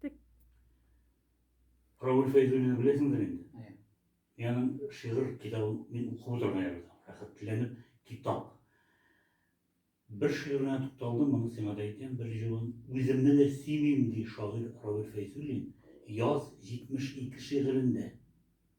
Киттек. Равил Фәйзуллинны беләсеңдер инде? Әйе. Яның шигырь китабын мин укып утырган идем. Рәхәтләнеп китап. Бер шигыренә тукталдым, моны сиңа да әйтәм, бер җылын үземне дә симим, ди шагыйрь Равил Фәйзуллин Яз 72 шигырендә.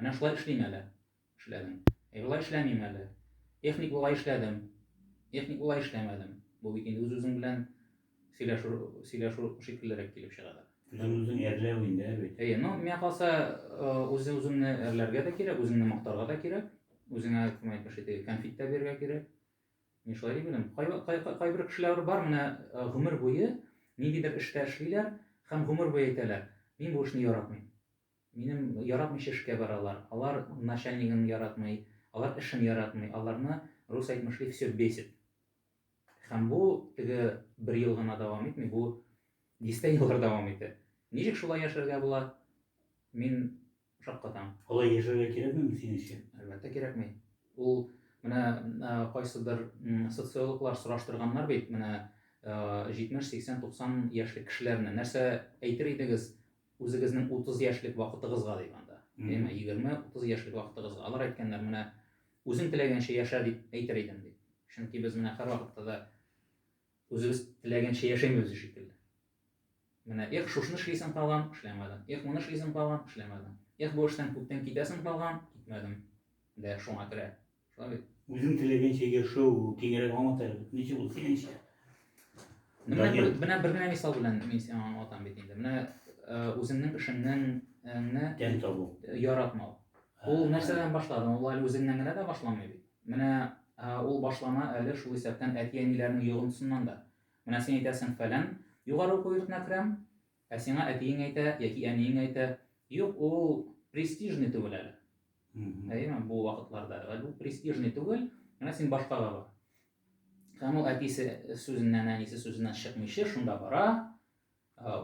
Менә шулай эшлим әле. Эшләдем. Әй, болай эшләмим әле. Техник болай эшләдем. Техник болай эшләмәдем. Бу бит инде үз-үзең белән сөйләшү, сөйләшү шикеллерәк килеп чыгадыр. Үзен-үзең әрләү инде, ә бит. Әйе, ну, миңа калса, үзе-үзеңне әрләргә дә кирәк, үзеңне мактарга да кирәк. Үзеңә, кем әйтмешли, теге конфет тә бирергә кирәк. Мин шулай дип уйлыйм. Кайбер кешеләр бар, менә гомер буе ниндидер эштә эшлиләр һәм гомер буе әйтәләр, мин бу эшне яратмыйм. Минем яратмыйча эшкә баралар, алар начальнигын яратмый, алар эшен яратмый, аларны рус әйтмешли всё бесит. Һәм бу теге бер ел гына дәвам итми, бу дистә еллар дәвам итә. Ничек шулай яшәргә була, мин шаккатам. Алай яшәргә кирәкмиме синең өчен? Әлбәттә кирәкми. Ул менә кайсыдыр социологлар сораштырганнар бит менә 70, 80, 90 яшьлек кешеләрне, нәрсә әйтер идегез, Үзегезнең утыз яшьлек вакытыгызга дим анда. Әмма егерме, утыз яшьлек вакытыгызга. Алар әйткәннәр, менә үзең теләгәнчә яшә дип әйтер идем, ди. Чөнки без менә һәрвакытта да үзебез теләгәнчә яшәмибез шикелле. Менә эх, шушны эшлисең калган, эшләмәдең. Эх, моны эшлисең калган, эшләмәдең. Эх, бу эштән күптән китәсең калган, китмәдең. Дә шуңа керә. Шамил. Үзең теләгәнчә яшәү киңрәк аңлат әле, ничек ул синеңчә? Менә бер, менә бер генә мисал белән мин сиңа аңлатам бит инде. Менә үзеңнең эшеңнеңне тән табу, яратмау. Ул нәрсәдән башлады? Ул әле үзеңнән генә дә башламый бит. Менә ул башлана әле шул исәптән әти-әниләрнең йогынтысыннан да. Менә син әйтәсең, фәлән югары уку йортына керәм, Ә сиңа әтиең әйтә яки әниең әйтә, Юк, ул престижный түгел әле. Әйеме? Бу вакытларда әле ул престижный түгел, менә син башкага бар. Һәм ул әтисе сүзеннән, әнисе сүзеннән чыкмыйча шунда бара,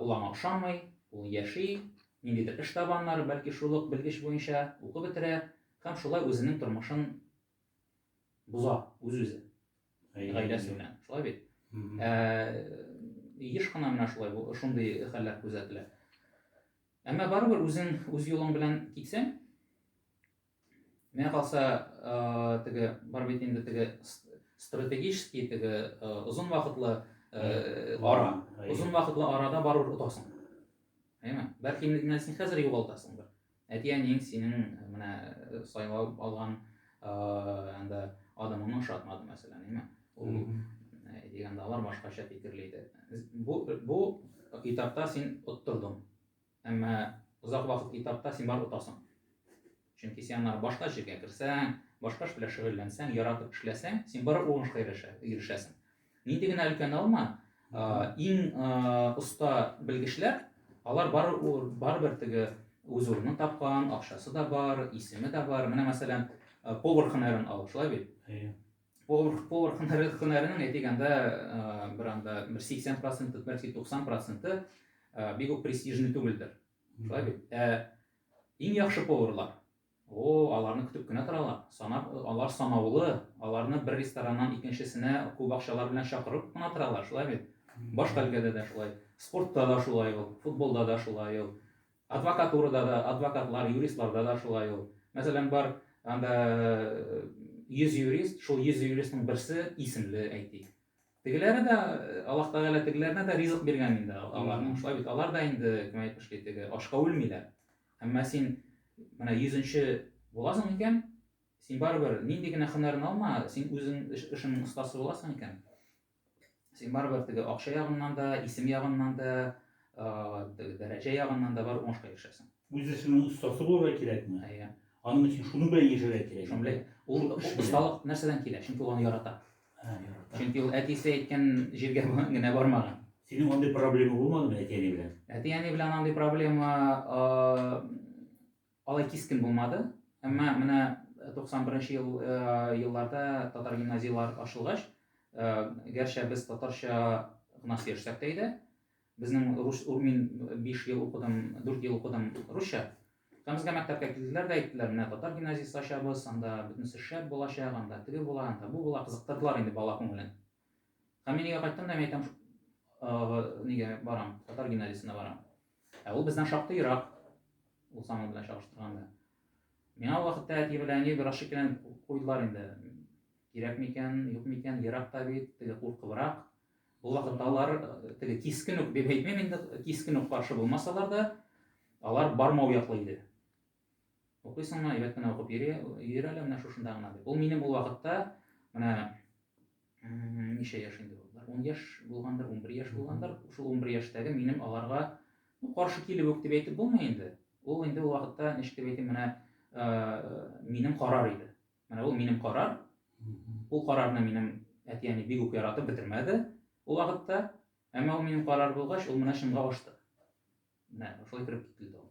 ул аңа ошамый, ул яши, ниндидер эш таба аннары, бәлки шул ук белгеч буенча укып бетерә һәм шулай үзенең тормышын боза үз-үзе. гаиләсе белән шулай бит ә, еш кына менә шулай бу шундый хәлләр күзәтелә әмма барыбер үзең үз юлың белән китсәң миңа калса теге бар бит инде теге стратегический теге озын вакытлы ара озын вакытлы арада барыбер отасың әйме бәлки инде син хәзер югалтасыңдыр Әти-әниең синең менә сайлап алган анда адамыңны ошатмады, мәсәлән, әйме? Ул дигәндә алар башкача фикерли иде. Бу бу этапта син оттырдың. Әмма озак вакыт этапта син бар отасың. Чөнки син аннары башка җиргә керсәң, башка эш белән шөгыльләнсәң, яратып эшләсәң, син бары уңышка ирешә, ирешәсең. Нинди генә өлкән алма, иң оста белгечләр, алар барыбер теге үз урынын тапкан, акчасы да бар, исеме дә бар. Менә мәсәлән, повар хөнәрен ал, шулай бит? Әйе. Повар повар хөнәре хөнәренең әйтегәндә бер анда бер 80%, бәлки 90% бик үк престижный түгелдер. Шулай бит? Ә иң яхшы поварлар О, аларны көтеп кенә торалар. Санап, алар санаулы, аларны бер рестораннан икенчесенә күп акчалар белән чакырып кына торалар, шулай бит? Баш кальгәдә дә шулай, спортта да шулай ул, футболда да шулай ул, адвокатурада да, адвокатлар, юристларда да шулай ул. Мәсәлән, бар анда 100 юрист, шул 100 юристның берсе исемле, әйтик. Тегеләре дә, Аллаһ Тәгалә тегеләренә дә ризык биргән инде аларның. Шулай бит, алар да инде, кем әйтмешли, теге ашка үлмиләр. Әмма син менә йөзенче буласың икән, син барыбер нинди генә һөнәрен алма, син үзең эшеңнең остасы буласың икән, син барыбер теге акча ягыннан да, исем ягыннан да, теге дәрәҗә ягыннан да бар уңышка ирешәсең. Үз эшеңнең остасы булырга кирәкме? Әйе. Аның өчен шуның белән яшәргә кирәк. Шуның белән. Ул осталык нәрсәдән килә? Чөнки ул аны ярата. Чөнки ул әтисе әйткән җиргә генә бармаган. Синең андый проблема булмадымы әти-әни белән? Әти-әни белән андый проблема алай кискен булмады. Әмма менә 91 ел елларда татар гимназияләр ачылгач, гәрчә без татарча гына сөйләшсәк тә иде, Безнең рус мин биш ел укыдым, дүрт ел укыдым русча. Һәм безгә мәктәпкә килделәр дә әйттеләр, менә татар гимназиясе ачабыз, анда бөтенесе шәп булачак, анда теге була, анда бу була, кызыктырдылар инде бала күңелен. Һәм мин өйгә кайттым да мин әйтәм, нигә барам, татар гимназиясенә барам. Ә ул бездән шактый ерак, ул самый белән чагыштырганда. Миңа ул вакытта әти белән әни бераз шикләнеп куйдылар инде. Кирәкме икән, юкмы икән, ерак та бит, теге куркыбрак, Ул вакытта алар теге кискен үк дип әйтмим инде, кискен үк каршы булмасалар да, алар бармау яклы иде. Укыйсыңмы, әйбәт кенә укып йөри, йөр әле менә шушында гына дип. Ул минем ул вакытта менә ничә яшь инде ул? 10 яшь булгандыр, 11 яшь булгандыр. Шул 11 яшьтәге минем аларга ну, каршы килеп үк дип әйтеп булмый инде. Ул инде ул вакытта ничек дип әйтим, менә минем карар иде. Менә ул минем карар. Ул карарны минем әти-әни бик үк яратып бетермәде ул вакытта. Әмма ул минем карар булгач, ул менә чынга ашты. Менә шулай кереп кителде ул.